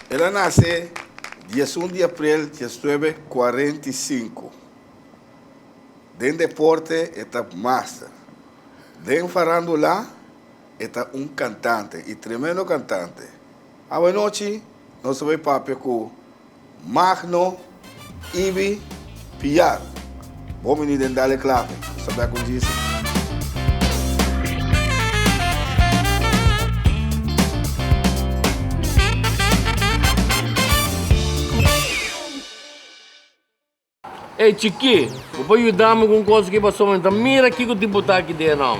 El a nace diesun di aprel diesnuebe kuarenta i sinku. Den deporte e ta master. Den farandula. E ta un cantante y tremendo cantante. Awanochi nos ta bay papia cu Magno Ibi Pian. Bon bini den Dale Clave, nos ta bek un dia si. Ey chikí, bo por yuda mi ku un kos aki pasobra mi ta mira kiko tin botá aki den e nòm.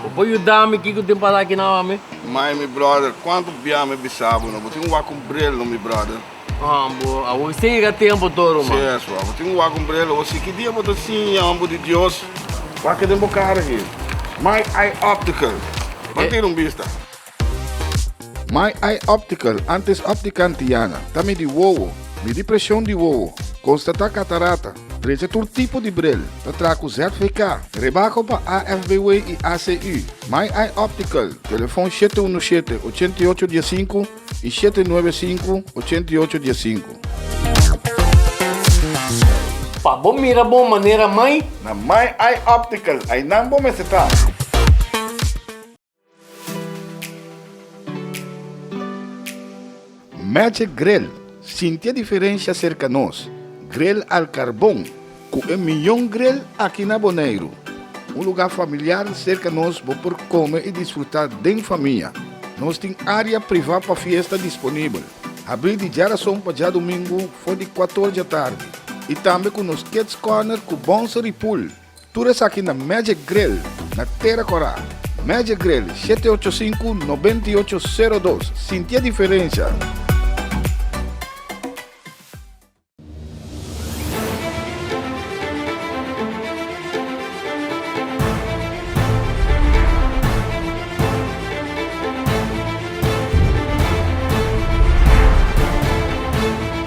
Bo por yuda mi kiko tin pasá aki na hòmi? Mai, mi bròder, kuantu bia mi bisa bo, no bo tin wak ku un bril, no mi bròder? Haan, bo a wak sin yega tempu tur, ruman. Si eso, a bo tin wak ku un bril, bo si ki dia bo ta siña hòmber di Dios wak den bo kara aki. Mai, ai optical, pa tira un bista. My Eye Optical, antes Optica Antiana, ta midi wowo, midi presion di wowo, konstatá katarata, drecha tur tipo di bril, ta traha ku ZVK, rebako pa AFBW i ACU. My Eye Optical, telefon shete unu shete, ochenta i ocho dia sinku i shete nuebe sinku, ochenta i ocho dia sinku. Pa bo mira bon manera mai. Na My Eye Optical, ainan bo mester ta. Magic Grill sintia diferensha serka nos grill al karbon ku e mion grill aki na Boneiru. Un lugá familiar serka nos bo por kome i disfrutá den famia. Nos tin área privá pa fiesta disponibel, habrí di djarason pa djadumingu for di kuator djatardi i tambe ku nos Kids Corner ku Bonsery Pool. Tur esaki na Magic Grill na Tera Corá. Magic Grill, shete ocho sinku, nobenta i ocho, sero dos. Sintié diferensha!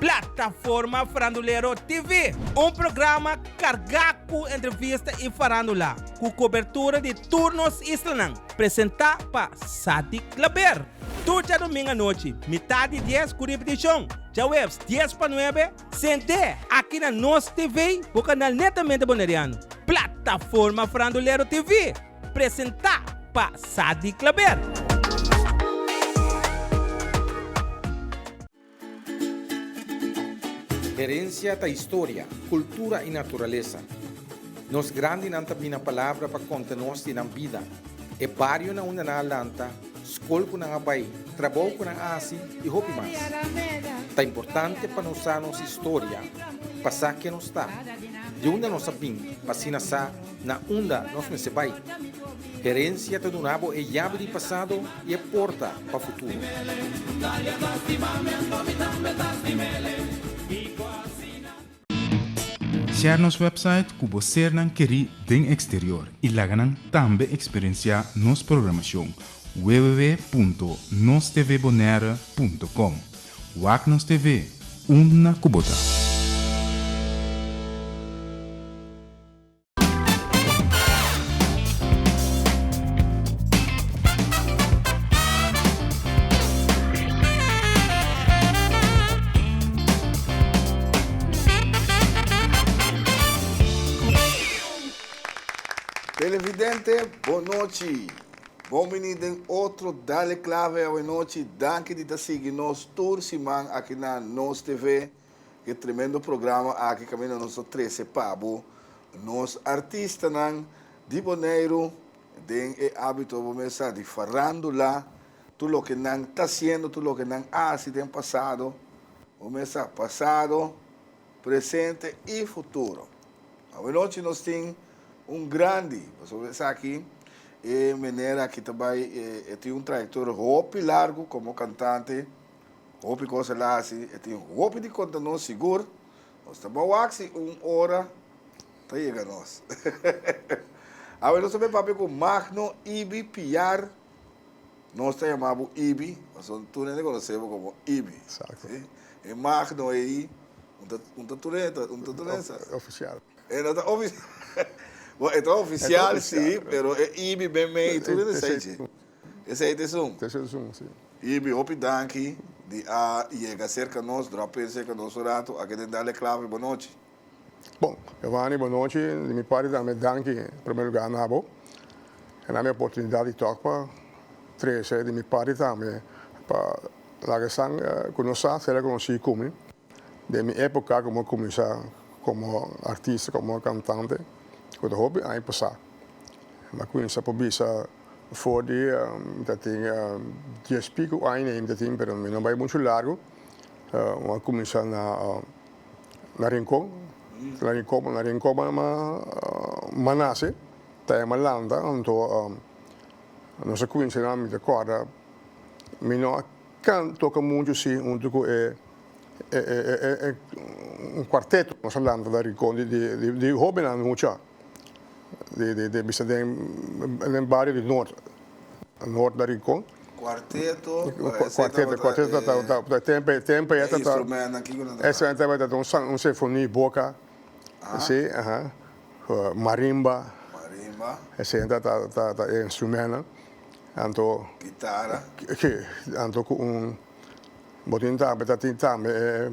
Plataforma Farandulero TV, un programa carga cu entrevista y farandula, cu cobertura di tur nos islanan, presenta pa Sadik Klaber. Tur djadomingo anochi, mitad di dies cu ripeticion djahueves dies pa nuebe, Sent'é aki na nos TV bo kanal netamente Boneriano, Plataforma Frandulero TV, presentá pa Sadi Klaber. Herencia ta historia, cultura y naturaleza. Nos grandinan ta bini na palabra pa conta nos di nan bida, e barionan unda nan a lanta, skol ku nan a bai, trabou ku nan a hasi i hopi mas. Ta importante pa nos sa nos historia, pa sa ken nos ta, di unda nos a bin pa asina sa na unda nos mester bai. Herensia ta duna bo e yabi di pasado i e porta pa futuro. Share nos website ku bo sernan kerí den eksterior i laga nan tambe eksperensiá nos programashon www.nostvbonaire.com Wak nos TV, unda ku bo ta! Televidente bon nochi. Bon bini den otro Dale Clave Awanochi. Danki di ta sigui nos tur siman aki na Nos TV. E tremendo programa aki caminda nos lo trece pa bo nos artistanan di Boneiru den e abito bo mesa di farandula, tur loke nan ta haciendo, tur loke nan a haci den pasado, bo mesa pasado, presente y futuro. Awanochi nos tin un grandi pasobra esaki e meneer aki ta bay e tin un trayectoria hopi largu como cantante. Hopi cos el a haci, e tin hopi di conta nos sigur, nos ta bao acci un ora ta yega nos. Awe nos ta bay papia cu Magno Ibi Piar, nos ta yama bo Ibi, pasobra un tur hende conoce bo como Ibi, si, e Magno eyi, un ta un ta tur hende, un ta tur hende sa, Oficial. E no ta oficial, bo e ta oficial si, pero e Ibi ben mey tur hende sa echi. Esei ta esun. Ta esei esun, si. Y bi hopi danki di a yega cerca nos, drop pens cerca nos un rato, a kende dale clave bo nochi. Bon, Evani bo nochi, di mi parti tambe danki primer lugar na bo, e na mi oportunidad di tok pa trece di mi parti tambe pa laga esan cu no sa ser reconoci cumi den mi epoca como a cuminsa como artista, como cantante, cu ta hopi aña pasa, ma cu insa por bisa. For di mi ta tin dies pico aña mi ta tin pero mi no bai mucho largo mi a cuminsa na rincon na rincon mi a nace ta ahi mi a lanta anto nos a cuminsa nan mi ta corda mi no a can toca mucho si hunto cu e cuarteto nos a lanta na rincon di hobennan mucha. di bisa den bario di Noord, Noord na Rincon. Cuarteto un sinfoni boca si aha marimba esey ta e instrumennan anto anto cu un bo tin tambe tin tambe e.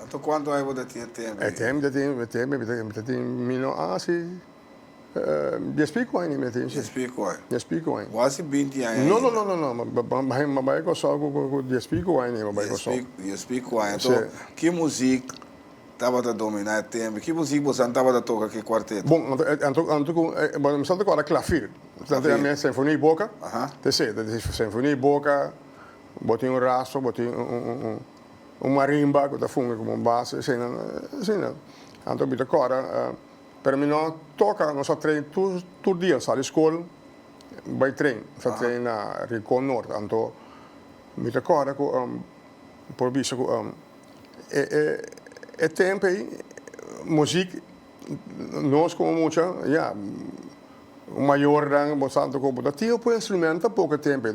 Anto cuanto ai bo ta tin e teme ai? E teme mi ta tin, e teme mi ta tin, mi ta tin mino asi dies pico aña mi ta tin si. Dies pico aña. Dies pico aña. Bo hasi binti aña ainda. No, no, no, no, ma bai Kòrsou ku dies pico aña niña mi bai Kòrsou. Dies pico, dies pico aña. Si. Anto ki muzik tabata dominá e teme? Ki muzik bo sa tabata toka ku e kuarteto? Bon, anto, anto, anto ku, bo mi sa toka ora klafir. Klafir. Anto ta mira senfonia i boka. Aha. Te seta, te senfonia i boka, bo tin un raso, bo tin un, un, un, un. Un marimba cu ta funge como un base asina, asina. Anto mi ta cora, pero mi no toca, nos a train tur, tur dia, sal di school bay train, nos a train na Rincon Norte, anto mi ta cora cu por bisa cu e, e, e tempo ey muziek nos como mucha, ya, mayornan bo sa anto cu bo ta tin opo instrumento tampoco e tempo ey.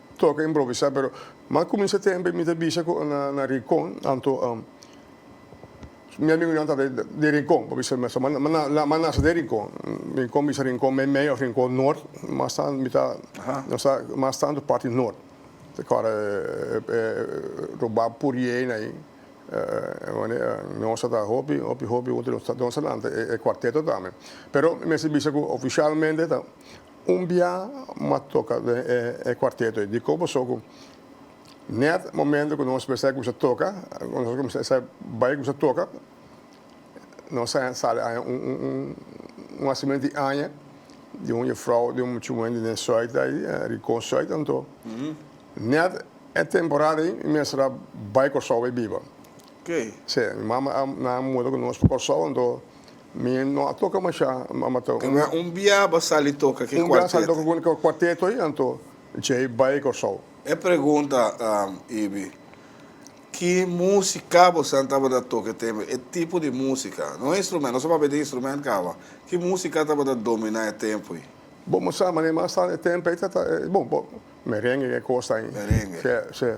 Toca improvisá pero m'a cuminsa tempo y mi ta bisa cu na Rincon anto mi amigonan tabata den Rincon pa bisa mester m'a m'a m'a nace den Rincon, Rincon bisa Rincon Meimei of Rincon Noord mas tanto mi ta mi ta mas tanto parti Noord te kore e robá puriena ayi nos tabata hopi hopi hopi hopi hopi nos ta nos ta lanta e cuarteto tambe pero mi mester bisa cu oficialmente ta Un bia m'a toka den e cuarteto ei. Dikon paso cu net momento cu nos bisa cusa toka, cu nos cuminsá bisa bay cusa toka, nos a sali aña un hacimiento di aña di un jufrouw di un muchumen di den Soita ei, Ricon Soita anto. Net e temporada ei mi mester a bay Corsou bay biba. Si, mi mama a muda cu nos pa Corsou anto. Mi no a toka mashá, mama ta un. Nga un bia bo sali toka ke kuarteto. Un bia sali toka ku e kuarteto ei, anto Jay bai Kòrsou. E pregunta Ibi, ki músika bosan tabata toka e tempu, e tipo di músika? No e instrumènt, nos a papia di instrumènt kaba. Ki músika tabata dominá e tempu ei? Bo mos sa maneman sa e tempu ei ta ta bon, bo, merengue e kos ta. Merengue. Sè, sè.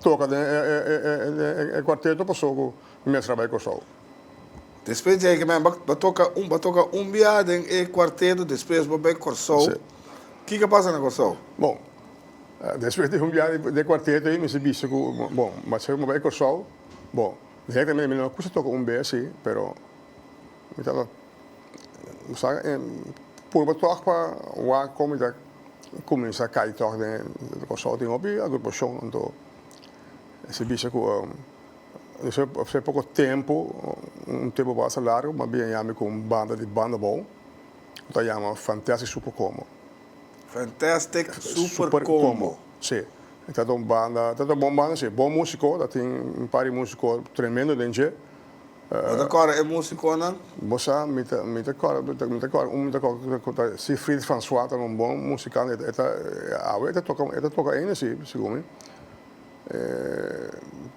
Toca den e cuarteto paso cu mestra bay Corsou. Despues di ey nan ba toca ba toca un bia den e cuarteto despues bo bay Corsou kico a pasa na Corsou? Bon despues di un bia den e cuarteto ey mester bisti cu bon mester cu mi bay Corsou bon den ey ta mira mi no kico toca un bes si pero Mi ta sa purba tòg pa wak kon mi ta kuminsá kai tòg den e kòrsou. Tin hopi agrupashon anto e sibisha ku afectá poko tempu, un tempu basta largu, mas bien a yami ku un banda di banda abou ku ta yama Fantastic Super Combo. Fantastic Super Combo. Si. E ta un banda, ta un bon banda si, bon músiko, ta tin un par di músiko tremendo den dje. Bo ta kòrda e músikonan? Bo sa, mi ta mi ta kòrda mi ta mi ta kòrda un mi ta kòrda ku ta Siegfried François ta un bon musikant e ta e ta awe e ta toka e ta toka ainda si segun mi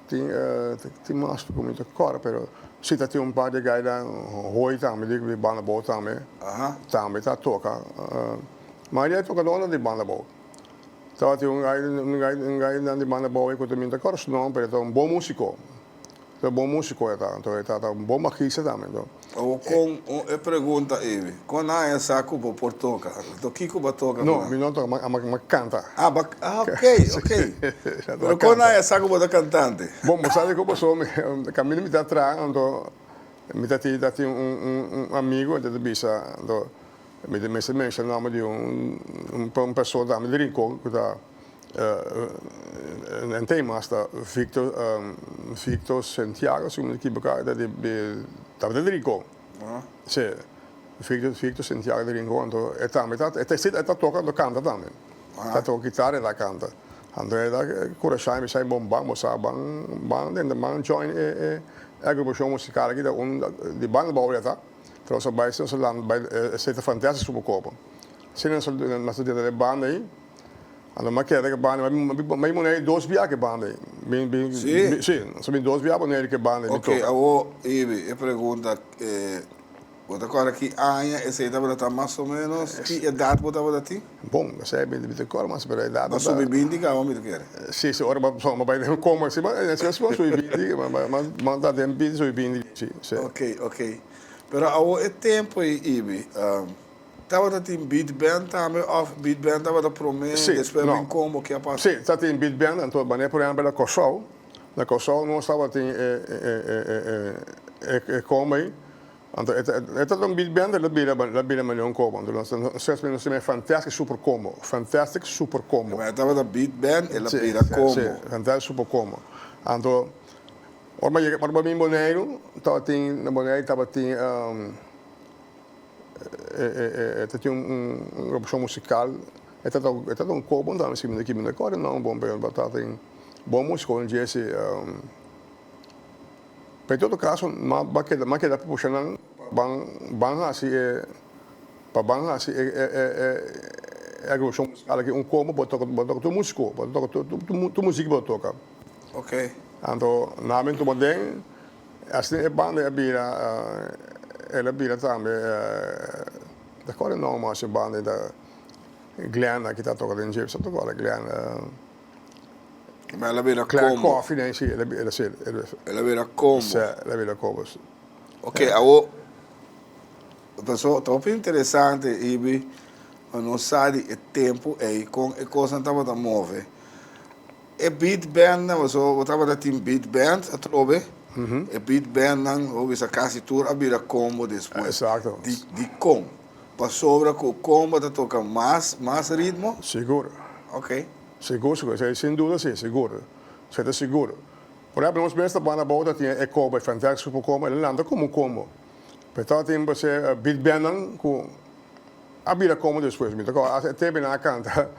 tin tin mas ku mi ta kòrda pero si ta tin un par di gainan Hooi tambe di di Banda Boot tambe tambe ta toka mayoria di tokadonan di Banda Boot tabatin un gai un gai un gainan di Banda Boot ku ta mi no ta kòrda su nòmber pero e ta un bon músiko. Ta bon musico e ta, anto e ta ta bon bajista tambe, anto Awo con e pregunta ey, con a e sa cu bo por toca? Anto kico bo a toca No, mi no a toca, ma ma canta. Ah, bo a, ah ok, ok. Pero con a e sa cu bo ta cantante? Bon, bo sa di cu paso mi, caminda mi ta atrá, anto mi ta tin, mi ta tin un un un amigo, enta ta bisa, anto mi ta mester menshon nomber di un un un persoon tambe di Rincon cu ta. Nan tin mas ta Victor Victor Santiago si no me equivoca e ta di tabata di Rincon si Victor Victor Santiago di Rincon anto e tambe ta e ta si e ta toca anto canta tambe e ta toca guitarra e ta canta anto e ta curashao mi sai bon ban bo sa ban ban den ban join e e e agrupacion musical aki ta un di ban di bobo yata tras nos a bai si nos a landa bai e e sete fantastic su poco bo si nos a mas a dentro den e banda ahi. A lo maqueta di e banda ei, ma mi bin muna ei dos biaha ku e banda ei. Bin, bin, Sí? bin, sí, so bin dos biaha buneri ku e banda ei mi Oke, toka. awor Ibi, e pregunta, bo ta kòrda ki aña esei tabata ta mas o ménos? Ki edat bo tabata tin? Bon, esei mi no ta kòrda mas, pero e edat Bo a tabata. subi binti kaba mi ta kere. Sí, sí, ora bo bo bai den un komo asina, bo asina si bo subi binti, bo bo bo bo ta den binti, subi binti, sí, sí. Oke, oke. Pero awor e tempu ei, Ibi, Tabata tin beat band tambe of beat band tabata prome y despues bring combo kia pasa? Sí, ta tin beat band anto manera por ejemplo na Corsou, na Corsou nos tabatin e e combo ey anto e tabata un beat band y lo bira lo bira manera un combo anto nos nos nos ta bira fantastic super combo, fantastic super combo. Manera tabata beat band y lo bira combo. Sí, sí, fantastic super combo anto ora bo yega ora bo bini Boneiru tabatin na Boneiru tabatin. E ta tin un agrupacion musical, e ta ta un kobo, no ta miskien minder aki, minder kore, no, bon pero ta ta tin bon musico den JC. Pero en todo caso nan ba keda, nan keda pusha nan pa ban hasi e, pa ban hasi e e agrupacion musical aki un kobo, bo ta toka, bo ta toka tur musico, bo ta toka tur music bo ta toka, anto nan a bini tuma den. Asina e banda a bira, el a bira tambe, ta kore e nomber mas e banda, ta Glen aki ta toka den Gypsum ta kore Glen, Glen Coffee den si el a bira si, el a bira Combo, sè el a bira Combo si. Ok awo ta so ta hopi interesante hibi pa nos sa di e tempo ei con e cosnan tabata move E beat band nan, pasobra bo tabata tin beat band atrobe, e beat band nan lo bisa casi tur a bira combo despues. Exacto. Di, di con? Pasobra cu combo ta toca mas, mas ritmo? Sigur. Ok. Sigur, sigur. Esei sin duda si, sigur. Esei ta sigur. Por ehempel, nos mes ta banda abou ta tin Echo by Fantax Super Combo, elennan ta como un combo. Pero e tabata tin, por hacer, beat band nan cu. A bira como despues mi ta coge hace te bina a canta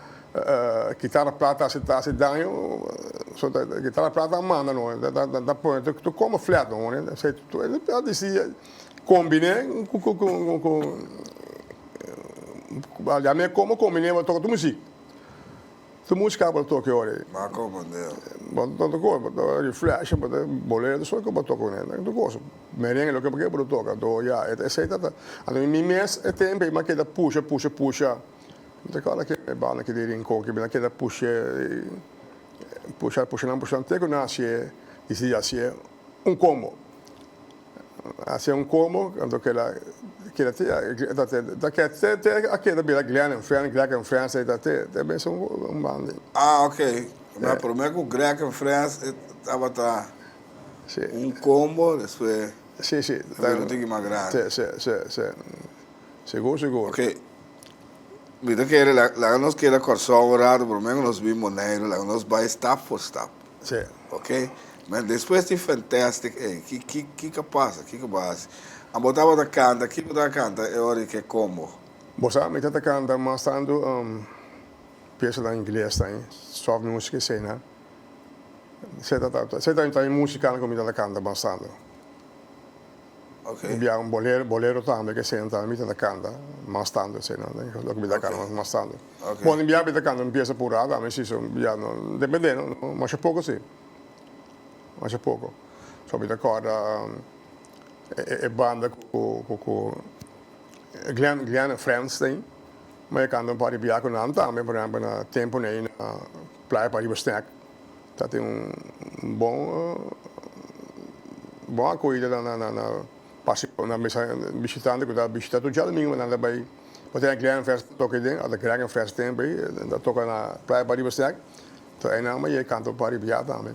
guitarra plata ta hace daño so ta guitarra plata a manda no ta pone tu coma flat no hoor esey a dici combine cu ya me como combine bo toca tu muziek. Ta mush cabo ta toke ora ey. Ba coba deo. Bo ta ta coba, bo ta reflection, bo ta bolero, ta solo coba toca uney. Bo ta coba su merengue loke bo kier bo ta toca, anto ya e ta esey ta ta. Anto mi mes e tempo ey mi a keda pusha, pusha, pusha, mi ta cala kier e banda ki den rincon ki bina keda push'e, pusha, pushanan, pushanan te cu naci'e y si yaci'e. Un combo. Hace un combo anto keda keda te ya ta te ta keda te te a keda bira Glen en friend Greg en friends ei ta te te mester un un bandi. Ah ok ma prome ku Greg en friends e tabata Si. un combo despues Si si a bira un tiki mas grandi. Se se se se segur segur. Ok mi ta kere laga nos keda Kòrsou un rato prome ku nos bin Boneiru laga nos bai stap por stap. Tse. Ok. Mira, despues di Fantastic ei, ki, ki, kiko a pasa? Kiko bo a hasi? And bo tabata kanta, ki bo tabata kanta e ora di ke combo? Bo sa, mi ta ta kanta mas tantu, um, piesanan ingles tañi, soft music eseinan. Esei ta, ta, ta, esei ta, ta e musicanan ku mi ta ta kanta mas tantu. Di bia un bolero bolero tambe ke esei nan tambe mi ta ta kanta mas tantu esei no den loke mi ta kanta mas tantu bon di bia mi ta kanta un piesa purado ami si so bia no depende no masha poko si masha poko so mi ta kòrda e banda ku ku Glen Glen and friends te mi a kanta un par di bia ku nan tambe por ehempel na tempunan ei na playa pariba snack. Ta tin un bon bon akoida na na na paseo na mester bishitante ku ta bishita tur djalmingo nan ta bai por tene grand fest toka iden ora grand fest ten bai nan ta toka na playa pariba stek ta ayi nan bai e kanto pariba ya tambe.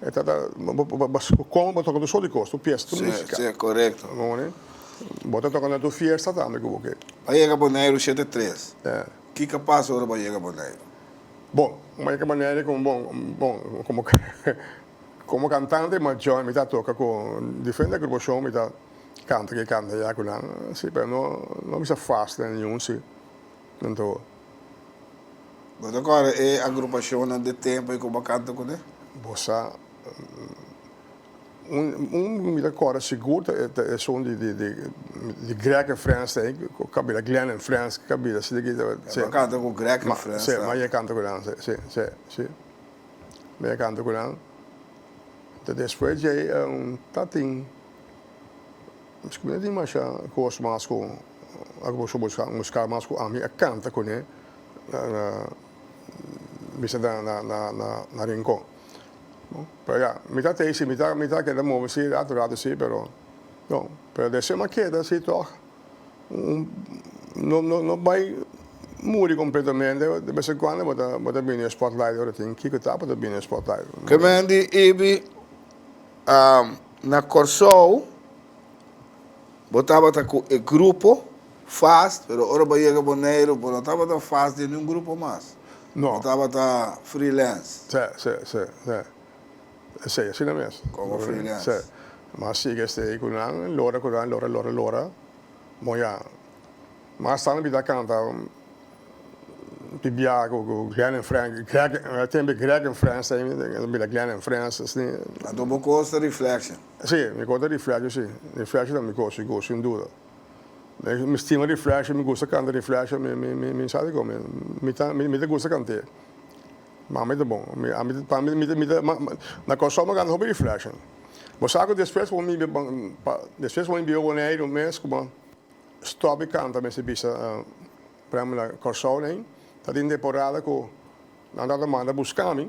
E ta ta Kon bo toka tu soli kos, tu pies, tu musika. Si, si, korekto. Ngoni. Bo ta toka na tu fiesta tambe ku bo ke. Bo a yega Boneiru shete tres. Ya. Kiko a pasa ora bo a yega Boneiru? Bon, bo a yega Boneiru komo bon, bon, komo komo kantante majó mi ta toka ku diferente agrupacion mi ta kanta ke kanta ya ku nan, si, pero no no bisa fast den ningun si. Anto. Bo ta kòrda e agrupashonnan den tempu ei ku bo a kanta kuné? Bo sa, un ku mi ta kòrda sigur ta esun di Greg en Frens ta ei, ku kabida Glen en Frens, ku kabida asina ki. Bo a kanta ku Greg en Frens tambe? Sí, m'a yega kanta ku nan, sí, sí, sí. M'a yega kanta ku nan. Ta despues dje ei ta tin, miskien mi no tin masha kos mas ku. Ora ku bo busca un ska mas ku ami a canta cune na misa na Rincon. Pero ya, mi ta tey si mi ta mi ta keda move si rato rato si pero no. Pero den esei ma keda si tog no no no bay muri completamente de bes en cuando bo ta bo ta bini e spotlight ora tin kiko ta bo ta bini e spotlight. Clemente Ibi, na Corsou Bo tabata cu e grupo fast, pero ora bo yega Boneiru, bo no tabata fast den di un grupo mas. No. Bo tabata freelance. Sí, sí, sí, sí. Esey asina mes. Como freelance. Sí. Mas sigue stay cu nan, lora cu nan, lora, lora, lora. Bon ya. Mas sta nan bita canta bibia cu Glen en Fren, Greg, e tempo Greg en Fren stay, nan bira Glen en Fren, asina. Anto bo cos ta Reflection. Sí, mi konta riflèsio sí. Riflèsio ta mi gosi, gosi un duda. Mi stima riflèsio, mi gusta kanta riflèsio, mi sa dikon mi ta gusta kant'é. Mama mi ta bon. Pa mi mi ta na Kòrsou mi a kanta hopi riflèsio. Bo sa ku despues ku mi bin despues ku mi bin Boneiru mes ku bo stòp di kanta mester bisa por ehèmpel na Kòrsou ta tin temporada ku nan tabata manda buska mi.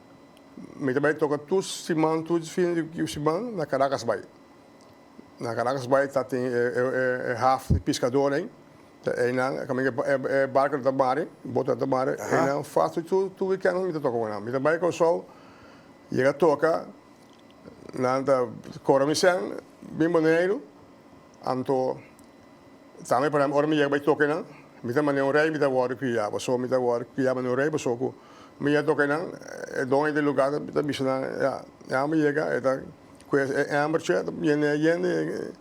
Mi ta bai toka tur siman, tur di fin di siman na Caracas bai. Na Caracas bai ta tin e haf di piskador ein, ta einan, kaminda e barco no ta mari, boto no ta mari, einan fas tur, tur, tur weekend mi ta toka ku nan. Mi ta bai Kòrsou, yega toka, nan ta kora mi sèn, bin Boneiru, anto. Tambe pasobra ora mi yega bai toca enan, mi ta mane un rey, mi ta wòrdu cria, pasobra mi ta wòrdu cria mane un rey, pasobra cu mi yega toca enan, e doño di e lugar ta ta bisa nan, ya, e amber yega, e ta cues e ambertje, ta biende e yende,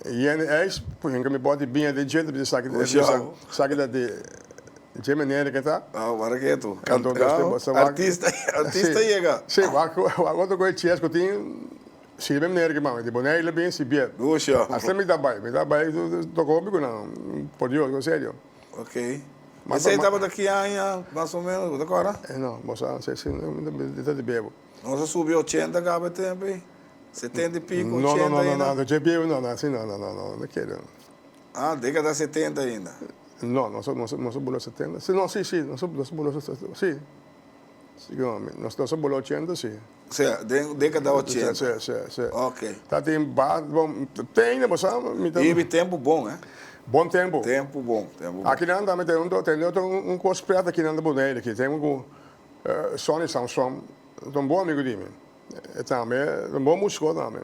e yende e eis, por ehenkele mi bòt di biña den dje, ta bisa esaki, ta bisa esaki ta di dje manera ke ta. Aw, wòrdu ketu, canta, aw, artista, artista yega. Sí, wak otro goi chies cu tin. Sigue mi manera ki mami di Boney lo bin si bied. Dusha. Asina mi ta bai. Mi ta bai toca hopi cu nan por Dios, bo serio. Ok. Esey tabata ki aña mas o menos, bo ta acorda? E no, bo sa, si asina mi ta bin, mi ta di bebo. Nos a subi ochenta caba e tempo ey? Setenta y pico, ochenta ainda? No, no, no, no, no, ochenta y pico no, no, asina no, no, no, no, no kier no. Ah, decada setenta ainda? No, nos a, nos a, nos a bula setenta, si, no, si, si, nos a, nos a bula setenta, si. Si no, mi, nos ta sa bolo ochenta si. Sè, den dekada ochenta. Sè, sè, sè. Ok. Ta tin ba, bon, teinda bo sa, mi ta. Bibi tempu bon, eh. Bon tempu. Tempu bon, tempu bon. Aki nan tambe ten, tende otro un kos pret aki nan di Bonaire aki. Ten un ku Sonny Samson, ta un bon amigu di mi. E tambe ta un bon musikot tambe.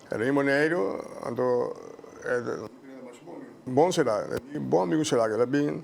E bini Boneiru, anto e. Bon será, e di bon amigu será ku el a bin.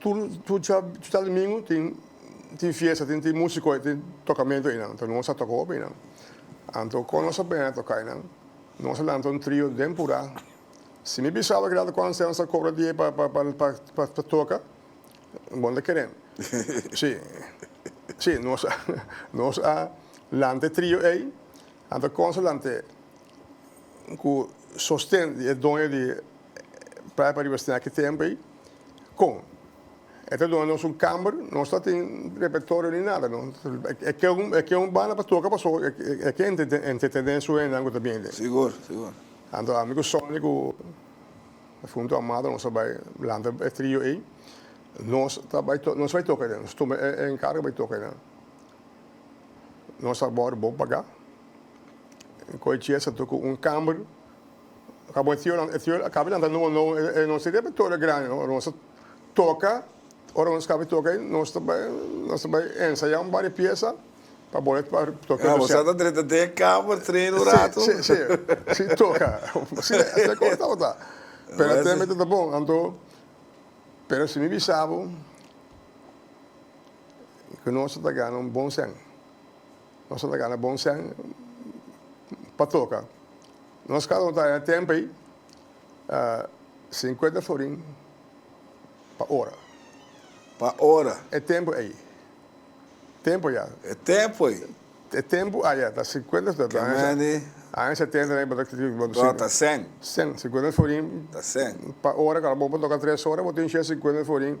Tur dja domingo tin fiesta, tin musico ei, tin tocamento einan. Anto nos a toca hopi einan. Anto con nos a bena toca einan, nos a lanta un trio den pura. Si mi bisaba keda ta con Anselmo sa cobra di e pa toca, bon ta keren. Si, si, nos a lanta e trio ei, anto con nos a lant'e cu sosten di e doño di Praia Pariba Snack e tempo ei. Kon? E ta duna nos un kamber, nos ta tin repertorio ni nada. E ke un banda pa toka paso e ke entretene e su hendenan ku ta bini den. Sigur, sigur. Anto ami ku Sonny ku Defunto Amado nos a bai lanta e trio ei. Nos ta bai toka, nos bai toka ei, nos tuma e enkargo bai toka einan. Nos a bor bo paga. Koichi a sa tur ku un kamber. Ka bo e tio nan, e tio a kap'e lanta nobo nobo, e nos tin repertorio grandi no, ora nos ta toka, ora nos kap'e toka ei nos ta bai nos ta bai ensaya un barie piesa pa bol'e pa toka e konsèp. Bo sa ta drenta den e kamer treina un ratu? Si, si, si, si toka, si e asina kos tabata, pero a tem'e tabata bon, anto pero si mi bisa bo ku nos tabata gana un bon sèn. Nos no ta gana bon sèn pa toka. Nos kasa no ta haña tèmpel sinkuenta florin pa ora. Pa ora. E tempu ei. Tempu ya. E tempu ei. E tempu aya ta sinkuenta florin. Ke mende. Aña setenta ei bo ta tin. Bo ta sèn. Sèn. Sinkuenta florin. Ta sèn. Pa ora. Kal bo por toka tres ora bo tin shia sinkuenta florin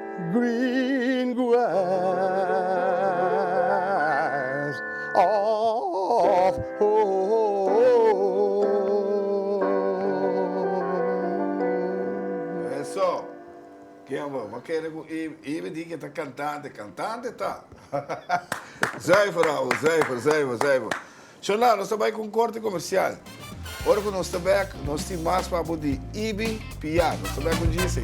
Green grass of home. Eso! Ken bo ta kere ku i ibe di ke ta kantante? Kantante ta! Zuiver, ouwe, zuiver, zuiver, zuiver. Chona, nos ta bai ku un korte komersial. Ora ku nos ta bèk, nos tin mas pa bo di Ibi Pia. Nos ta bèk un djis.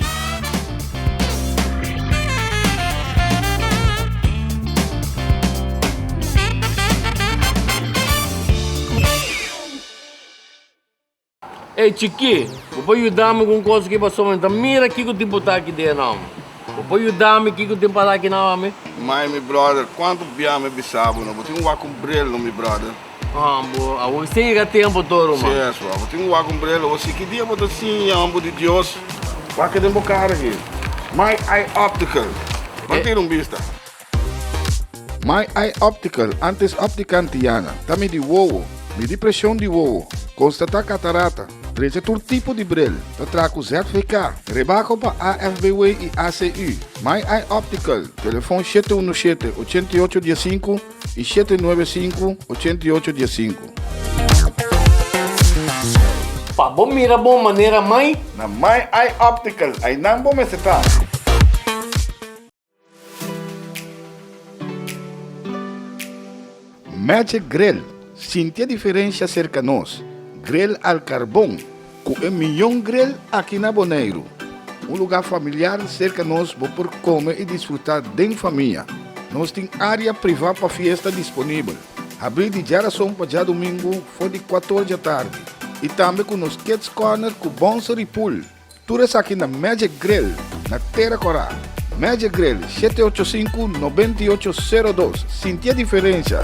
Ey chikí, bo por yuda mi ku un kos aki paso mi ta mira kiko tin por ta aki den e nom. Bo por yuda mi kiko tin para aki na homi? Mai, mi brother, kuantu bia mi bisa bo no bo tin ku wak un brel no mi brother. Haan, bo a wak sin yega tempo to ruman. Si es wak, bo tin ku wak un brel hosi. Ki dia bo ta siña homber di Dios? Wak den bo kar aki. Mai, ai optical. Ban tira un bista. My Eye Optical, antes Optica Antiana, ta midi wowo, midi presion di wowo, konstatá katarata, trecha tur tipo di bril, ta traha ku ZVK, rebako pa AFBW i ACU. My Eye Optical, telefon shete unu shete, ochenta i ocho dia sinku i shete nuebe sinku, ochenta i ocho dia sinku. Pa bo mira bon manera mai. Na My Eye Optical, ainan bo mester ta. Magic Grill sintia diferensha serka nos grill al karbon ku e mion grill aki na Boneiru. Un lugá familiar serka nos bo por kome i disfrutá den famia. Nos tin área privá pa fiesta disponibel, habrí di djarason pa djadumingu for di kuator djatardi i tambe ku nos Kids Corner ku Bonser i Pool. Tur esaki na Magic Grill na Tera Corá. Magic Grill, shete ocho sinku, nobenta i ocho, sero dos. Sintié diferensha!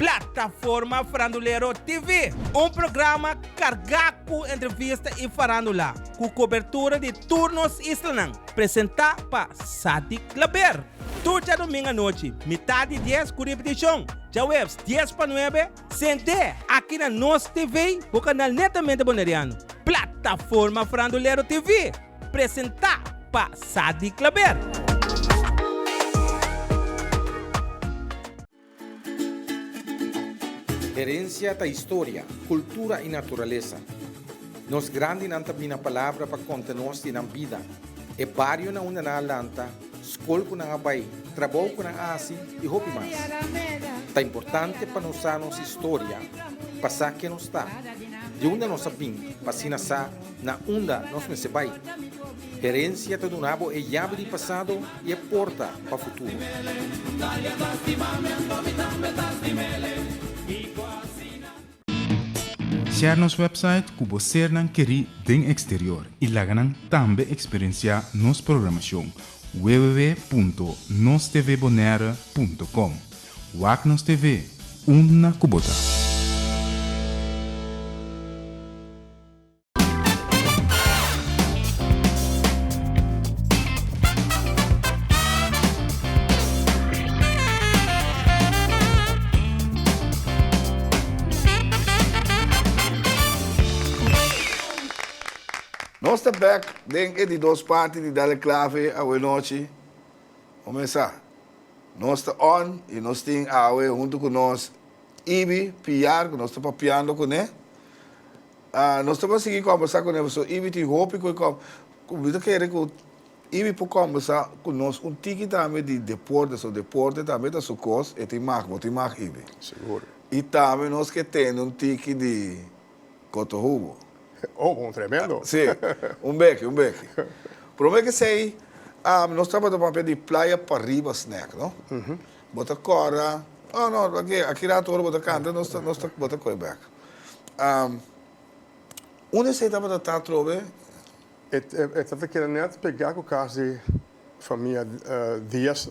Plataforma Farandulero TV, un programa carga cu entrevista y farandula, cu cobertura di tur nos islanan, presenta pa Sadik Klaber. Tur djadomingo anochi, mitad di dies, cu ripeticion djahuebs dies pa nuebe, Sent'é aki na nos TV bo kanal netamente Boneriano, Plataforma Frandulero TV, presentá pa Sadi Klaber. Herencia ta historia, cultura y naturaleza. Nos grandinan ta bini na palabra pa conta nos di nan bida, e barionan unda nan a lanta, skol ku nan a bai, trabou ku nan a hasi i hopi mas. Ta importante pa nos sa nos historia pa sa ken nos ta, di unda nos a bin pa asina sa na unda nos mester bai. Herensia ta duna bo e yabi di pasado i e porta pa futuro. Share nos website ku bo sernan kerí den eksterior i laga nan tambe eksperensiá nos programashon www.nostvbonaire.com Wak nos TV, unda ku bo ta! Nos ta bek den e di dos parti di Dale Clave awe-nochi. Homesa, nos ta on i nos tin awe huntu ku nos Ibi Piar ku nos ta papiando kuné. Nos ta por sigui kòmbersá ku nan. So Ibi tin hopi ku e kòm. Mi ta kere ku Ibi por kòmbersá ku nos un tiki tambe di deporte. So deporte tambe ta su kos. E tin mag, bo tin mag Ibi. Sigur. I tambe nos ke tende un tiki di kotohubo. Oh, bon. Tremendo. Sí. Un beki, un beki. Promé kesei nos tabata papia di playa pa riba snèk, no? Bo ta kòrda, Oh no, pakié aki rato ora bo ta kanta nos ta, nos ta, bo ta koe bèk. Am, unda esei tabata ta atrobe? E, e, e ta ta kere nèt pegá ku kas di famia Diaz,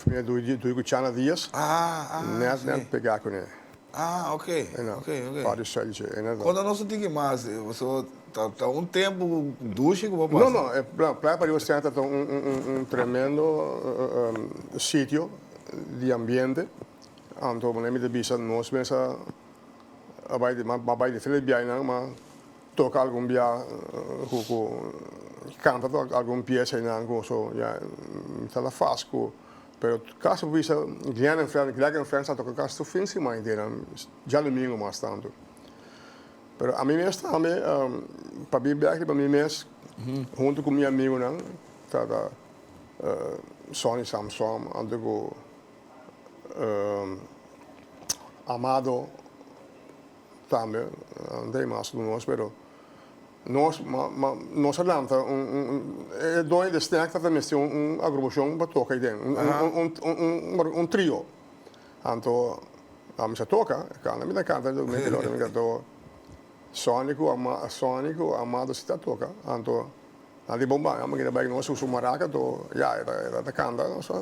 Famia Duy Duy ku Chana Diaz, Ah, ah, nèt, nèt si. pegá kuné. Ah ok ok ok. Pa di shanchi ena do. Kono nos ta tiki mas pasobra ta ta un tempo ku dushi ku bo pasa. No no e playa pariba Oceana ta ta un un un tremendo sitio di ambiente anto manera mi ta bisa nos mesa a bai di a bai diferente di biahinan ma toka algun bia ku ku kanta algun pies einan ku so ya mi ta la fas ku. Pero kas bo bisa Glen en Fren, Gleg en Fren sa toka kas tur fin siman i dena djalumingu mas tantu. Pero ami mes tambe pa bin bèk riba mi mes huntu ku mi amigunan ta ta Sonny Samson anto ku Amado. Tambe Andrei mas ku nos pero nos nos a lanta un e doño di e stèk tabata mester un agrubacion pa toka ayi den un trio anto a mester toka e canta mi ta canta mi ta gloria mi ta canta Sonny ku Sonny ku Amado si ta toka anto nan di bon banda mi ta bai ku nos su maraca to ya e ta canta nos a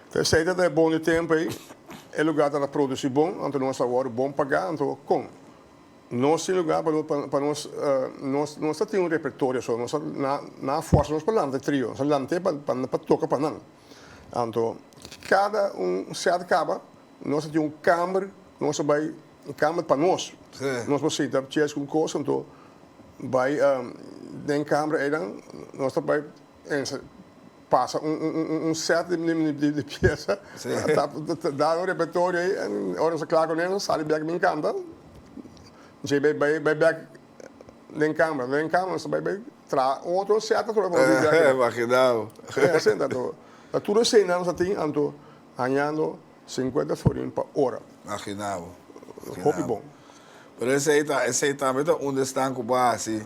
P'esei ta ta e bon di tempu ei, e lugá ta ta produsí bon, anto nos a wòrdu bon pagá, anto kon? Nos tin lugá pa pa nos, nos nos ta tin un repertorio so nos a na nan a fòrsa nos pa lanta e trio, nos a lant'é pa pa pa toka pa nan. Anto kada un sèt kaba nos a tin un kamber ku nos a bai, un kamber pa nos, nos por sinta tjeskun kos, anto bai den kamber einan nos ta bai Mester pasa un set di piesa, da un repertorio ey en ora nos ta kla cu eso sali bek bin canta, dje ey bai bek den camera, den camera nos ta bai bai traha otro set atrobe pa nos bini bek, asina ta anto ta tur escena nos ta tin anto hañando cincuenta florin pa ora, hopi bon. Pero esey ta esey tambe ta un de esnan cu bo a haci.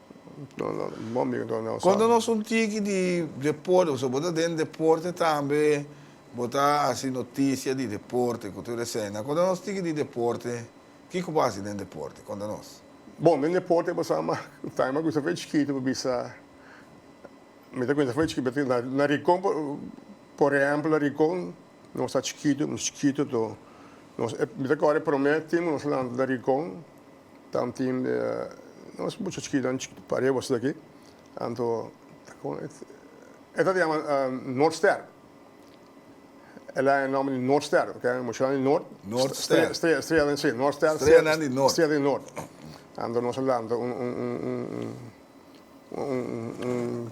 Cuando nos un tiki di deporte, pasobra bo ta den deporte tambe, bo ta haci noticia di deporte cu tur escena, cuando nos tiki di deporte, kico bo haci den deporte? Conta nos. Bon, den deporte bo sa ma time a cuminsa fe chikito bo bisa, mi ta cuminsa fe chikito, na Rincon por ehemplo, na Rincon Nos ta chikitu, nos chikitu to. Nos e mita kore prome tin ku nos lanta den rincon, ta un tin di nos mucha chikinan pariba bos esaki. Anto ta kon e ta ta yama Noordster. E laga e nòmber di Noordster, ke mushanan di Noord. Noordster. Strea, strea den si, Noordster. Streanan di Noord. Strea di Noord. Anto nos a lanta un un un un.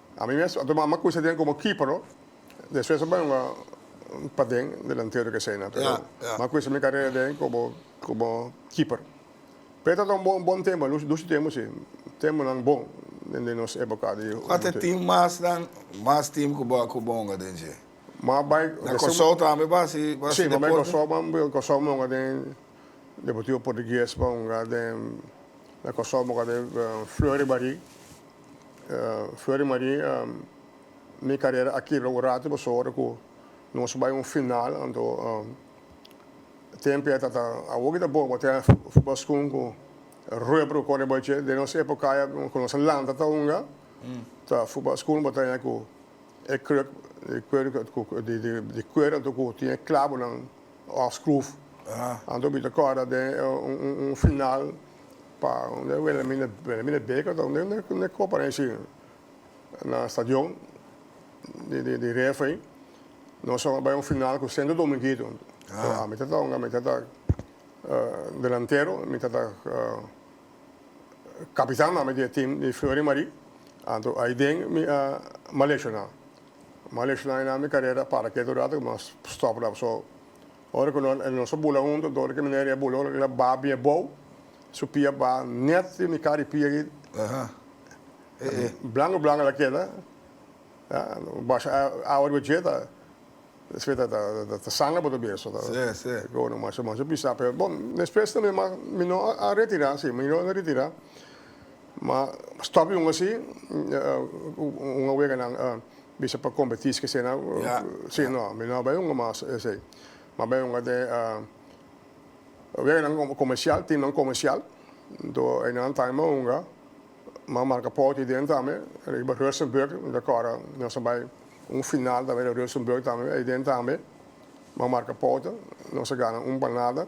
Ami mes a tuma m'a kusa den komo Kipro, despues a bai un paden, un delantero keseinan, pero m'a kusa mi karera den komo keeper. Pero e tabata un bon tempu, nos dushi tempu si, tempunan bon den nos epoka di humantu. Kua ta e tim masnan, mas tim ku bo a kuba onga den dje? M'a bai. Na Kòrsou tambe bo a hasi deporte? Si, m'a bai Kòrsou, m'a bai Kòrsou, m'a onga den Deportivo Portugues, m'a onga den, na Kòrsou m'a onga den Fleury Barrie. Fleury Marie, Mi carera a kibra un rato paso ora cu nos bay un final, anto tempo eta ta awo ki ta bon cu ten futbolschoen cu rueda por cora bay dje. Den nos epocaya cu nos a lanta ta hunga ta futbolschoen cu taña cu e kruk di kuer anto cu tin e clabonan of scroof. Anto mi ta corda den un final. Pa unda e wele mi na wele mi na beka ta unda unda e kopa na isin na stadion di di di ref ai nos so a bai un final ku sento dominguito so ami ta tonga mi ta ta delantero mi ta ta kapitan tambe di e tim di flor i mari anto ai den mi a mal leshona mal leshona i nan mi karera para ketu rato mi a stòp so. Ora ku nan nos a bula huntu, dor di ki manera i a bula, ora ku el a ba bia bou, su pia a ba nèt den e kara di pia ei, blangu blangu el a keda, basha awa riba dje ta esei ta sangra bo ta beso, ta go no masha masha bisa, pero bon, despues tambe mi no a retirá, si, mi no a retirá. Ma stop di un asi, un a wega nan bisa pa competi esque esena, si no, mi no a bay hunga mas esey. Mas bay hunga den wega nan comercial, team nan comercial, entoa eynan a taya mas hunga, mas a marca paut ahi den tambe, riba Rustenburg, mi ta acorda nos a bay un final tambe riba Rustenburg tambe, ahi den tambe mas a marca paut, nos a gana un pa nada.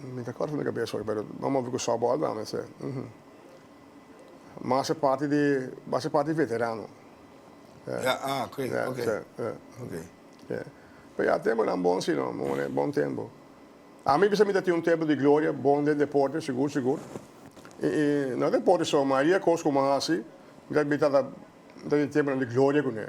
Mi ta corta mi cabeza hoy pero m'a move cu sobo al dame ese man a ser parti di a ser parti di veterano ya ah ok ok ok pe ya tembonan bon si no bo manera bon tembo a mi bisa mi ta tin un tembo di gloria bon den deporte sigur sigur y y no deporte so mayoria cos cu mi a hasi mi ta mi ta tin tembonan di gloria cune.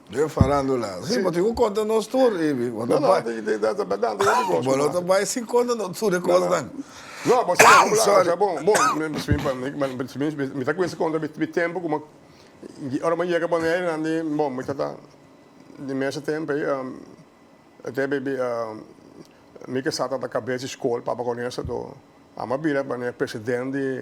Den farandula. Si, bo tin ku konta nos tur, Ibi. Bo ta bai. No, no, ta bardad, ta yami cos. Bo lo ta bai sin konta nos tur e cos nan. No, bo sa bo la asa bon, bon, mi ta cuinsi contra mi tempo como y ora mi yega Bonaire nan di bon mi ta ta di mesa tem pey tem pey bi mi ke sa ta ta cabeza school papa con esa do a mi a bira pa president di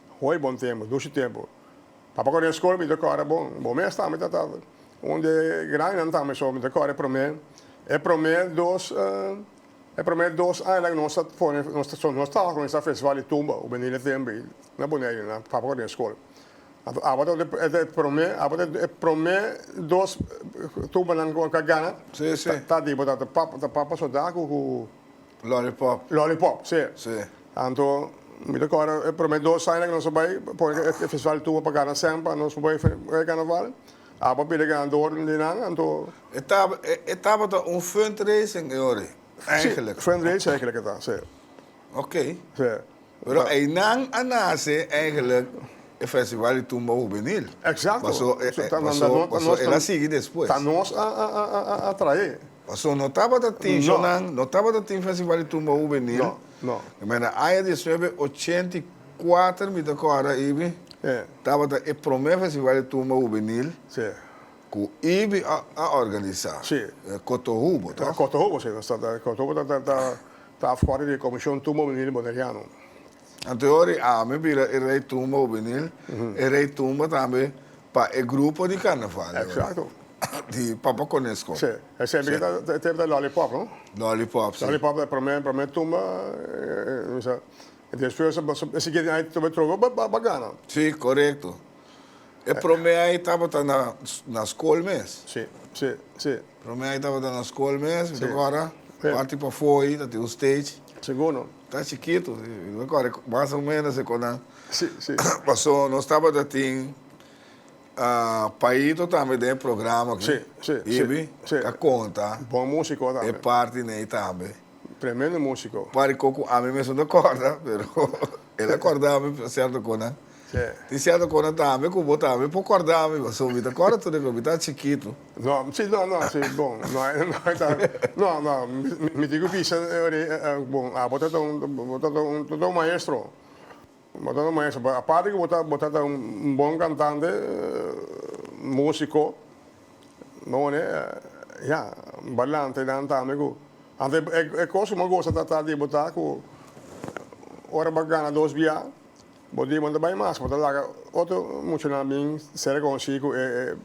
Hoy bon tempo, dushi tempo. Papa kore eskol mi ta kore bon. Bo mes tambe ta ta un de grandenan tambe so mi ta kore prome. E prome dos e prome dos aña la nos ta pone so nos tawa con esa festival di tumba cu beni Letenbe y na pone ahi na papa kore eskol. Anto abo ta e ta e prome abo ta e prome dos tumbanan cu a gana ta di bo ta ta papa ta papa soda cu cu Lollipop. Lollipop, sí. Sí. Anto, mi ta kòrda e promé dos aña ku nos a bai, pone ku e festival tuba pa gana sèn pa nos bai e karnaval. Abo a pidi ganador di nan, anto. E ta, e tabata un fundraising e ori, èigelik. Sí, fundraising èigelik e ta, sí. Oké. Sí. Pero einan a nace eigenlijk e festival di tumba hubenil. Exacto. Paso, Paso ta na nos, ta nos. El a sigui despues. Ta nos a a trae. Paso no tabata tin shonan. No. No tabata tin festival di tumba hubenil. No, no. Mira na aña diesnuebe ochenta i kuater mi ta kora ibi. E. Tabata e prome festival di tumba hubenil. Si. Ku ibi a organisa. Si. Cotohubo, toh? Cotohubo, si. Cotohubo ta Ta fora di e comishon tumba hubenil Boneriano. Anto ori ami bira e rey tumba hubenil, e rey tumba tambe pa e grupo di carnaval di ora. Exacto. Di Papa Conesco. Sí. E semper ki ta, e tempo ta Lollipop, no? Lollipop, sí. Lollipop ta e prome, prome tumba, misa. Y despues bo so, si kier ai tobe troco, bo bo gana. Sí, corecto. E prome ai tabata na, na scol mes. Sí, sí, sí. Prome ai tabata na skol mes, mi ta kòrda, parti pafoi ta tin un stage. Segundo. Ta chikitu, mi ta kòrda mas o menos e konan. Si, si. Paso nos tabata tin paito tambe den e programa aki. Si, si, si. Ibi ta konta. Bon músiko tambe. E parti n'ei tambe. Tremendo músiko. Pari koko ami mesun ta kòrda, pero el a kòrda mi sèrto konan. Sè. Tin sierto kona tambe ku bo tambe por kòrda mi, pasobra mi ta kòrda tur den kua mi ta chikitu. No, si, no, no, si, bon, no hay, no hay ta, no, no, mi tin ku bisa ori, bon, abo ta ta un, bo ta ta un, bo ta ta un maestro, bo ta ta un maestro, pero aparte ku bo ta, bo ta ta un bon kantante, musiko, bo one, ya, balante nan tambe ku, ante e kos ku bo a gosa ta ta di bo ta ku ora bo a gana dos biaha. Bo dimon ta bai mas, bo ta laga otro muchanan bin ser reconocido cu e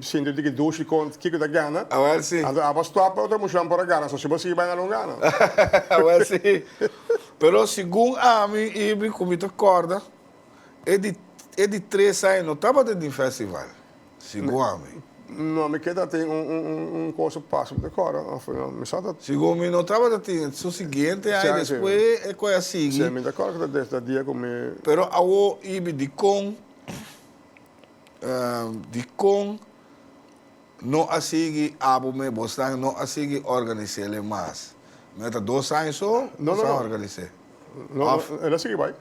sinto di ki dushi con kico ta gana. Awel si. Anto abo stop otro muchanan por a gana, so si bo sigui bai na lo gana. Awel si. Pero segun ami y mi cu mi ta corda, e di tres aña no tabata den festival. Si go a mi. No, mi keda tin un un un un cosa pa pasa por e cora of mi sa ta. Si go mi no tabata tin su siguiente ai despues e koe a sigui. Si mi ta kor ku ta dia ku mi. Pero awo ibi dikon dikon no a sigui abo me bosnan no a sigui organis'é le mas. Mi a ta dos aña so ku sa organis'é of. No no el a sigui bai.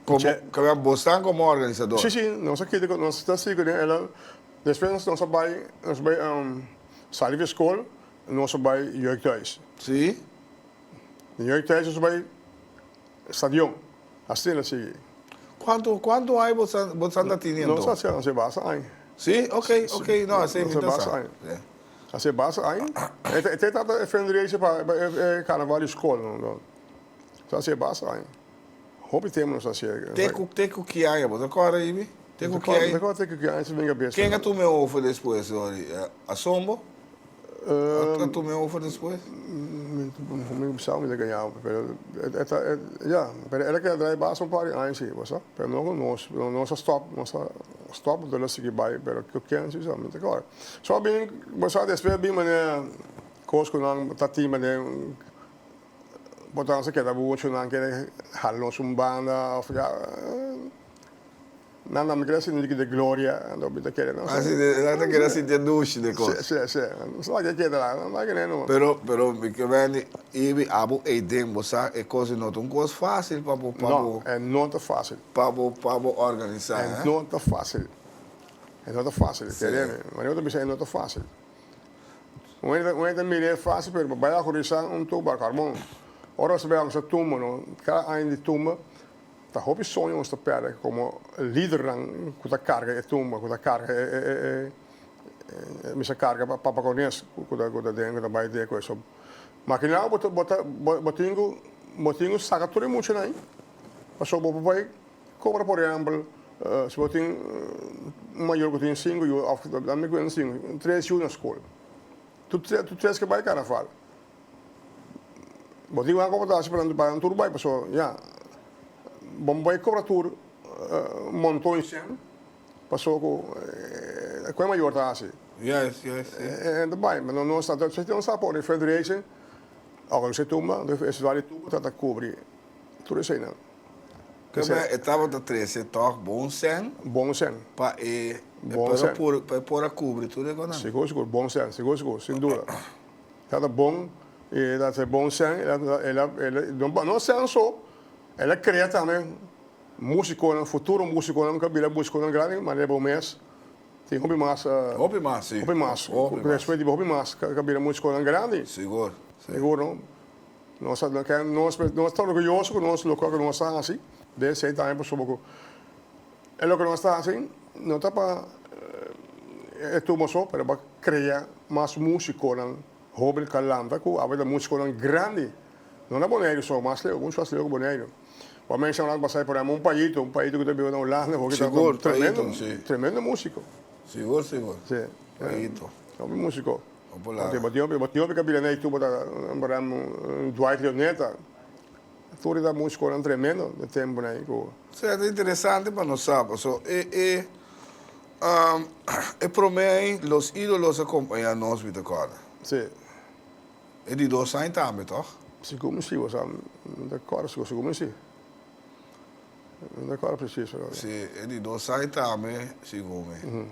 Komo kaba bosnan komo organisador? Sí, sí, nos a keda, nos ta sigu den elan. Despues nos a bai, nos a bai sali di skol, nos a bai jeugdhuis. Sí. Di jeugdhuis nos a bai stadion, asina sigui. Kuantu, kuantu aña bosnan, bosnan ta tini anto? Nos a hasi basa aña. Sí, ok, ok, no, asina mi ta sa. Hasi basa aña. E ta e fundraiser pa e carnaval di skol, no, no. Nos a hasi basa aña. Hopi tempo nos a haci e Te cu te cu ki aña bo ta corda Ibi? Te cu ki aña? Te corda te cu ki aña si venga bes. Ken a tuma e ofer despues Dori? A son bo? A tuma e ofer despues? Mi mi pensaba mi ta gañaba bo pero e ta e ya pero e ta keda drai bas un par di aña si bo sa pero no cu nos pero nos a stop nos a stop bo ta lo sigi bay pero cu ken si sa mi ta corda so a bini bo sa despues a bini manera cos cu nan ta tin manera. Botan sa keda bubochonan ke hala nos un banda of ya nan nan mi keda sinti de gloria anto mi ta kere no se. Nan ta keda sinti e dushi de kos. Se se mi sa ke keda la no make neno. Pero pero mi ke Wendy i mi abo ey den bo sa e kos no ta un kos facil pa bo pa bo. No e no ta facil. Pa bo pa bo organisa eh. E no ta facil e no ta facil kere mi manera bo ta bisa e no ta facil. Un hende un hende ta mira e fásil pero pa bai a horizá un tuba karbon. Ora nos ta bai kusá tumba no, kada aña di tumba ta hopi soño ku nos ta pèrdè komo lidernan ku ta karga e tumba, ku ta karga e mester karga pa Papa Konés ku ta ku ta den ku ta bai den ku e. So ma kinaw bo ta bo ta bo tin ku bo tin ku saka tur e muchanan pasobra bo por bai Cobra por ehempel si bo tin un mayor cu tin cinco yu of dame cuenta si tres yu na school tur tur tres ke bay carnaval bo tin cu haci comportacion parandu paran tur bay pasobra ya bo bay cobra tur monton shen pasobra cu e cu e mayor ta haci hende ta bay no no esta ta sa por refrigeration oco lo si tumba refrigerador di tubo trata cubri. Tur eseinan. Kema e tabata trese tòg bon sèn. Bon sèn. Pa e por a kubri tur e konan. Sigur, sigur. Bon sèn. Sigur, sigur. Sin duda. E tabata bon i e tabata bon sèn. No sèn so, el a krea tambe músikonan, futuro músikonan ku a bira músikonan grandi manera bo mes. Tin hopi mas. Hopi mas, si. Hopi mas. Ku respet di bo, hopi mas ku a bira músikonan grandi. Sigur, si. Sigur, no? Nos a ke nos mes nos ta orguyoso ku nos loke loke nos ta hasi den esei tambe pasobra ku e loke nos ta hasi no ta pa e tur masho pero pa krea mas musikonan hoben kalanta ku awe ta musikonan grandi no na Boneiru so mas leu muchu mas leu ku Boneiru bo a menshoná ku pasai por ehempel un Payito un Payito ku ta biba na Hulanda hoki ta un tremendo tremendo musiko si hopi musiko. Te bo tiompi, bo tiompi kabida na itu bo ta para Dwight Leonetta, tur e ta musikonan tremendo na e temponan ai ku. Sete interesante pa nos sa paso e e prome ai Los Idolos a kompaña nos mi ta kòrda. Si. E di dos aña tambe tòg? Sigur mi si, bo sa mi ta kòrda sigur, sigur mi si. Mi ta kòrda presiso. Si e di dos aña tambe sigur mi.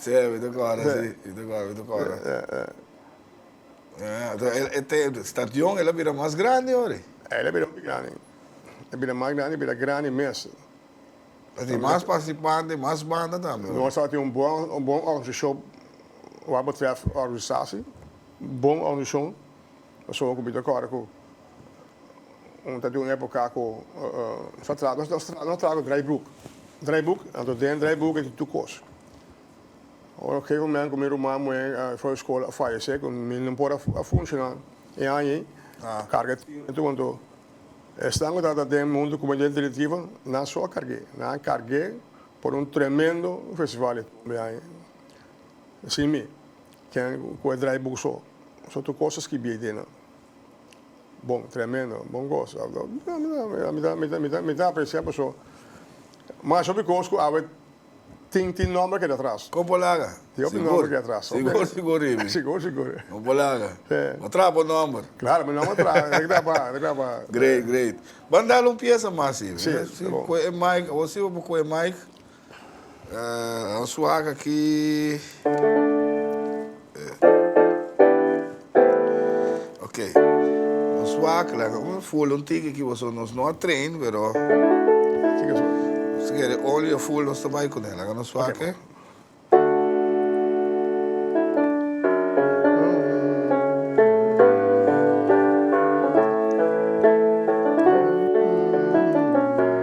Sey, mi ta kòrda, si. Mi ta kòrda, mi ta kòrda. Ato, stadion, el a bira mas grandi ora? El a bira mas grandi. El a bira mas grandi, el a bira grandi mes. Ta tin mas partisipante, mas banda tambe ora? Nos tabata tin un bon, un bon organisashon wak betrèf organisasi. Bon organisashon. Pasobra ku mi ta kòrda ku un ta di un époka ku nos a traha, nos a traha, nos a traha ku draaiboek. Draaiboek, anto den draaiboek e tin tur kos. Ora un gegeven moment ku mi ruman muhé for di skol a fayesé, ku mi no por a funshoná e aña ei, karga e tin anto anto esnan ku tabata den mundu ku mi den directivo, nan so a karg'é. Nan a karg'é por un tremendo festival e tumbe aña ei. Sin mi. Ken ku a drai buku so. So tur kosas ki biei dena. Bon, tremendo, bon kos. Mi ta apresia paso mas hopi kos ku awe tin tin nomber keda atras. Kon por laga? Tin hopi nomber keda atras. Sigur sigur Amy. Sigur sigur. Kon por laga? No traha bo nomber. Claro, mi nomber traha, ta graba, ta graba. Great, great. Ban dal un pieza mas Amy. Si, ta bon. Ku e mic, awor si bo por ku e mic. Nan suak aki Ok Nan suak lak un ful un tiki aki boso nos no a train pero si kere only a ful nos ta bai kuné laga nan suak e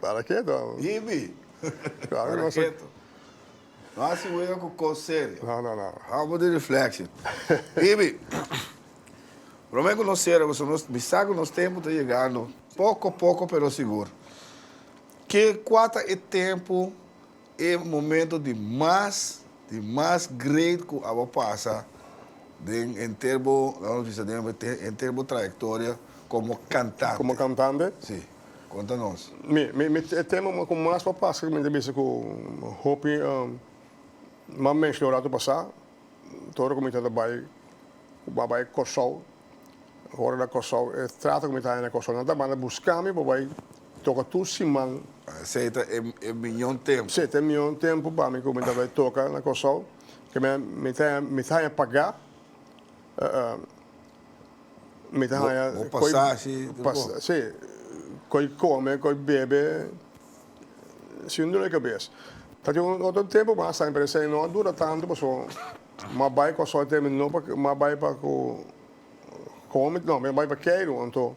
Para ke to? Ibi. Para ke to? No hasi wega ku kos serio. No, no, no. Hobo di reflection. Ibi, prome ku nos sera koson, nos mi sa ku nos tempu ta yegando poko poko pero sigur. Ke kua ta e tempu? E momento di mas di mas great cu aba pasa den henter bo, lo nos bisa den henter bo trayectoria como cantante. Como cantante? Si. Conta nos. Mi, mi, mi, e tema cu mas pa pasa cu mi ta bisa cu hopi mas mensh lo rato pasa, todo ora cu mi ta ta bay, cu mi a bay Corsou. Ora na Kòrsou e trato ku mi ta haña na Kòrsou nan ta manda buska mi pa bai toka tur siman. Esei ta e miñó tempu. Sí, ta e miñó tempu pa mi ku mi ta bai toka na Kòrsou. Mi ta haña mi ta haña pagá. Mi ta haña koi. Bo pasashi tur bo. Sí, koi kome, koi bebe. Sin un dolor di kabes. Ta tin un otro tempu mas tambe pero esei no a dura tantu pasobra. M'a bai cu asoy teme no pa m'a bai pa cu come, no, m'a bai pa Cairo anto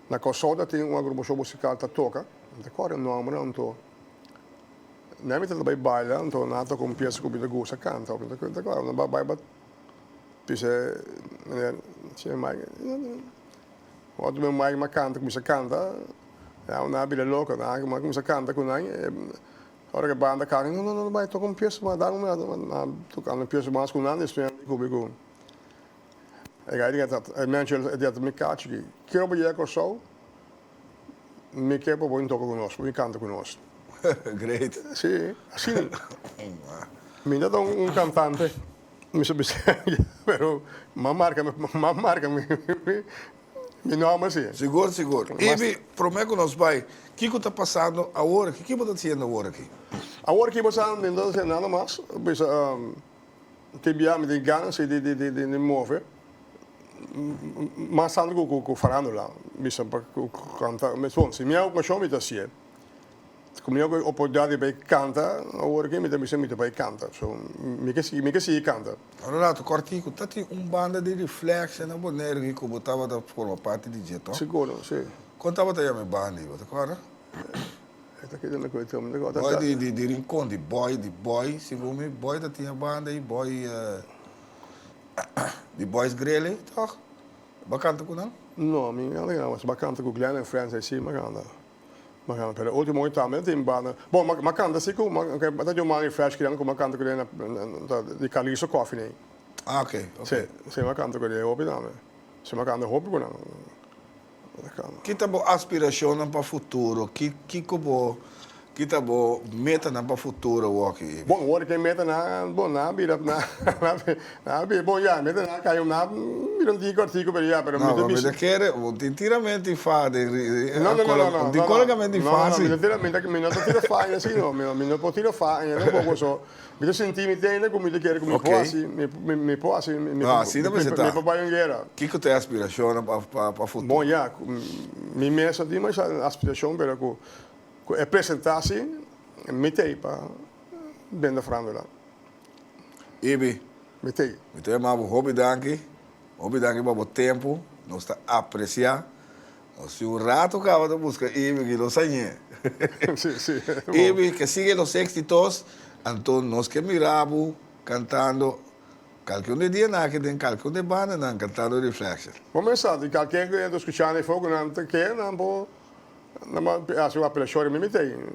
na Corsou ta tin un agrupacion musical ta toca, mi ta core nomber anto nan mi ta bai baila anto nan a toca un pieza cu mi ta gusta canta ok mi ta core nan b'a bai pa p'esei meneer Señor Mike otro meneer Mike m'a canta cuminsa canta nan a bira loco nan a cuminsa canta cu nan. Ora ku e banda kaki, no, no, no, no bai toka un pies mas, dame un mira, a toka un pies mas ku nan, despues a descubri ku e gai di Kenneth a mencio el, e di ata mi kachi aki, kier bo yega Kòrsou, mi ke pa bo bin toka ku nos, pa bin kanta ku nos. Great. Sí, asina. Mi no ta un kantante, mi so bisèn ya, pero m'an marka, m'an marka mi. Mi nom a si. Sigur, sigur. Ibi, promé ku nos bai, kiko ta pasando awor aki? Ke bo ta hasiendo awor aki? Awor aki bo sa, mi no ta hasiendo nada mas. Bisa te bia mi tin ganzi di move mas tantu ku farandula. Bisa pa kanta. Bon, si mi a okashon mi ta hasié. Ku mi a oportunidat di bai kanta awor aki, mi ta bisa mi ta bai kanta. So, mi ke sigui kanta. Un relato cortico, ta tin un banda di Reflection na Bonaire aki cu bo tabata forma parti di dje, to? Seguro, si. Con tabata yama e banda ey, bo ta corda? Ey ta keda lo cu ey mi ta corda. Boy di, di Rincon, di Boy, di Boy, segun mi, Boy ta tin e banda ey, Boy, di Boys Grele, toch? Bo a canta cu nan? No, mi no a canta, mi a canta cu Glen and Friends, ey si mi a canta. Mañana pero e ultimo aña tambe no tin banda. Bo m'a m'a canta si cu m'a m'a ta jumba Henry Fresh crian cu m'a canta cu den ta di Carliso Coffee nei. Ah ok ok. Si si m'a canta cu den hopi tambe. Si m'a canta hopi cu nan m'a canta. Ki ta bo aspiracionnan pa futuro? Ki kico bo ki ta bo metanan pa futuro wak? Bon wor di ki e metanan bon nan a bira nan. Ah be bon ya, mi ta na kaya un nap, mira un tiki kortiku pero ya, pero mi ta bishi. No, mi ta kere, bo tin tira men tin fa den ri, no, no, no, no, tin koloka men tin fa si. No, no, mi ta tira, mi ta, mi no ta tira fa aña si no, mi no por tira fa aña tampoco, so mi ta sinti mi teinda ku mi ta kere ku mi por hasi, mi, mi, mi por hasi, mi, mi, mi por bai un guera. Kiko ta e aspirashonnan pa, pa, pa futuro? Bon ya, ku mi mes no tin masha aspirashon pero ku, ku e presentá si mi t'ei pa benda frando la. Ibi, Mi ta i. mi ta i mabo hopi danki, hopi danki pa bo tempu, nos ta apresiá. Nos tin un ratu kaba ta buska Ibi aki los añ'é. Sí, sí, bo. Ibi, ke sigue los éxitos, anto nos ke mirá bo kantando kalke un di e dianan aki den kalke un di e bandanan kantando Reflection. Bo mes sa di kalke ku e ta skuchá na e fogonan ta ke nan por, nan por hasi un apelashon riba mi,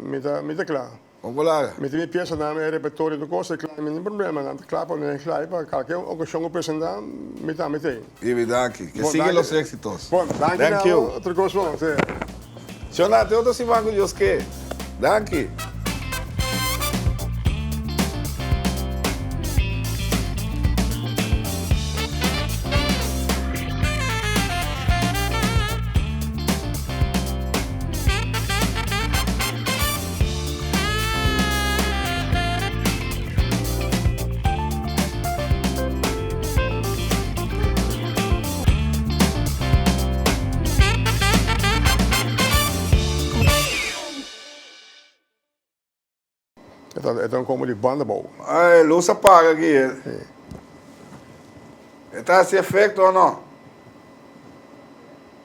mi ta, mi ta kla. Hola, mi tin e piasanan, e repertorio, tur cos, e clay, mi tin problemanan, ta cla pa mi, clay, pa calkier ocasion cu presenta, mi tambe tin. Ibi ta aki. Que sigue los exitos. Bon, danki na abo, tur cos bon, se. Shona, te otro siman cu Dios ke. Danki. E ta como di banda bou. Ay, e luz a paga aki. E, e ta hasi efecto o no?